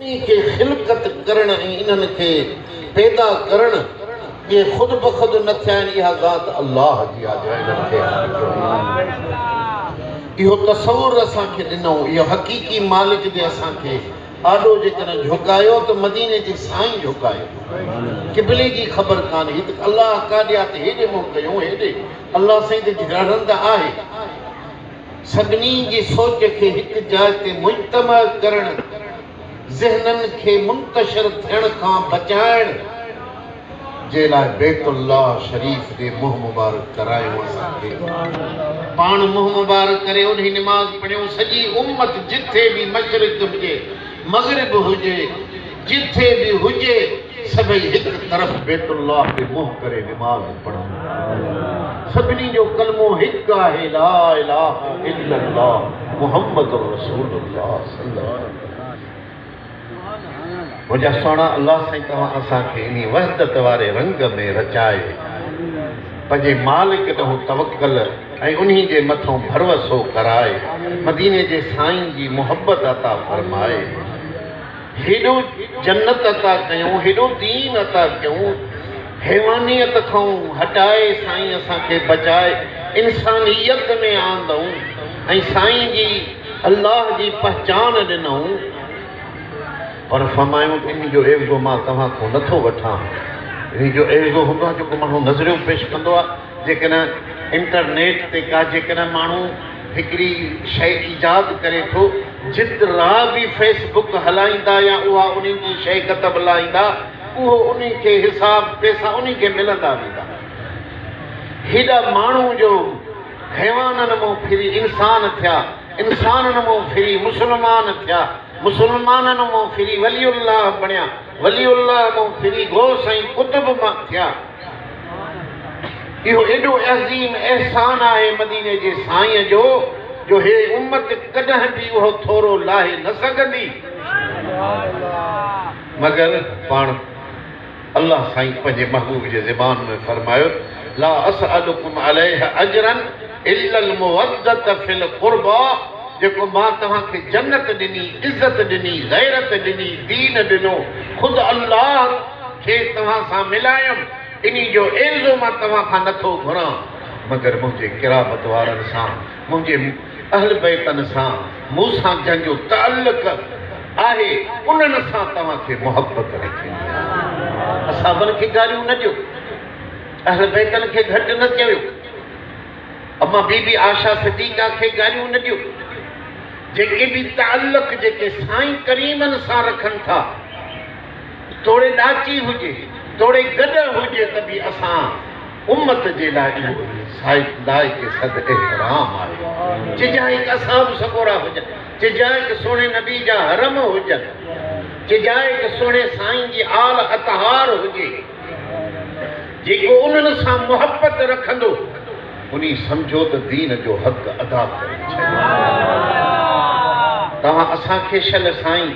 انهي کي خلقت ڪرڻ ۽ انهن کي پيدا ڪرڻ جي خود بخود نه ٿيا آهن اها ذات الله جي آهي جنهن انهن کي اهو تصور اسان کي ڏنو اهو حقيقي مالڪ جي اسان کي آڏو جيڪڏهن جهڪايو ته مديني جي سائين جهڪايو قبلي جي خبر ڪانهي ته الله ڪاڏي آهي ته هيڏي منهن ڪيون هيڏي الله سائين ته جهڙنده آهي سڀني جي سوچ کي هڪ جاء تي مجتمع ڪرڻ، ذهنن کي منتشر ٿيڻ کان بچائڻ جي لاء بيت الله شريف ڏي منهن مبارڪ ڪرايون اسان کي پاڻ منهن مبارڪ ڪري اونهي نماز پڙهيون سڄي امت جٿي به مشرق هجي مغرب هجي جٿي به هجي سڀئي هڪ طرف بيت الله تي منهن ڪري نماز پڙهن ٿا. سڀني جو ڪلمو هڪ آهي لا اله الا الله محمد رسول الله صلي الله عليه وسلم. منهنجا سهڻا الله سائين توهان اسان کي انهي وحدت واري رنگ ۾ رچائي پنهنجي مالڪ ڏانهن توڪل ۽ انهي جي مٿان ڀروسو ڪرائي مديني جي سائين جي محبت عطا فرمائي. هيڏو جنت عطا ڪيون، هيڏو دين عطا ڪيون، حيوانيت کئون هٽائي سائين اسان کي بچائي انسانيت ۾ آندئون ۽ سائين جي الله جي پهچان ڏنئون پر فرمايون انهي جو عيوضو مان توهان کئون نه ٿو وٺان انهي جو عيوضو هوندو آهي جيڪو ماڻهو نظريون پيش ڪندو آهي جيڪڏهن انٽرنيٽ تي ڪا جيڪڏهن ماڻهو هڪڙي شيء ايجاد ڪري ٿو جت را به فيس بڪ هلائيندا يا اها انهن جي شيء ڪتب لائيندا اهو انهن کي حساب پيسا انهن کي ملندا ويندا هيڏا ماڻهو جو حيوانن مون ڦري انسان ٿيا انسانن مون ڦري مسلمان ٿيا مسلمانن مون ڦري ولي الله بڻيا ولي الله مون ڦري غوث ۽ قطب مان ٿيا اهو ايڏو عظيم احسان آهي مديني جي سائين جو جو هيء امت ڪڏهن به اهو ٿورو لاهي نه سگهندي مگر پاڻ الله سائين پنهنجي محبوب جي زبان ۾ فرمايو لا اسئلڪم عليه اجرا الا المودة في القربا جيڪو مان توهان کي جنت ڏني، عزت ڏني، غيرت ڏني، دين ڏنو خود الله کيس توهان سان ملايم، انهي جو عيوضو مان توهان کان نه ٿو گهران، مگر منهنجي قرابت وارن سان، منهنجي اهلبيتن سان، مون سان جن جو تعلق آهي، انهن سان توهان کي محبت رکڻي آهي. صحابن کي گاريون نه ڏيو، اهلبيتن کي گهٽ نه چويو، اما بي بي عائشه صديقه کي گاريون نه ڏيو، جيڪي به تعلق جيڪي سائين ڪريمن سان رکن ٿا، توڙي ڏاچي هجي، توڙي گڏهه هجي ته به اسان امت جي لاء اهو هي لائق صد احترام آهي. چجا هڪ اصحاب سڳورا هجن، چجا هڪ سهڻي نبي جا حرم هجن، چجا هڪ سهڻي سائين جي آل اطهار هجي. جيڪو انهن سان محبت رکندو انهي سمجهو ته دين جو حق ادا ڪري ڇڏيو. توهان اسان کي شل سائين.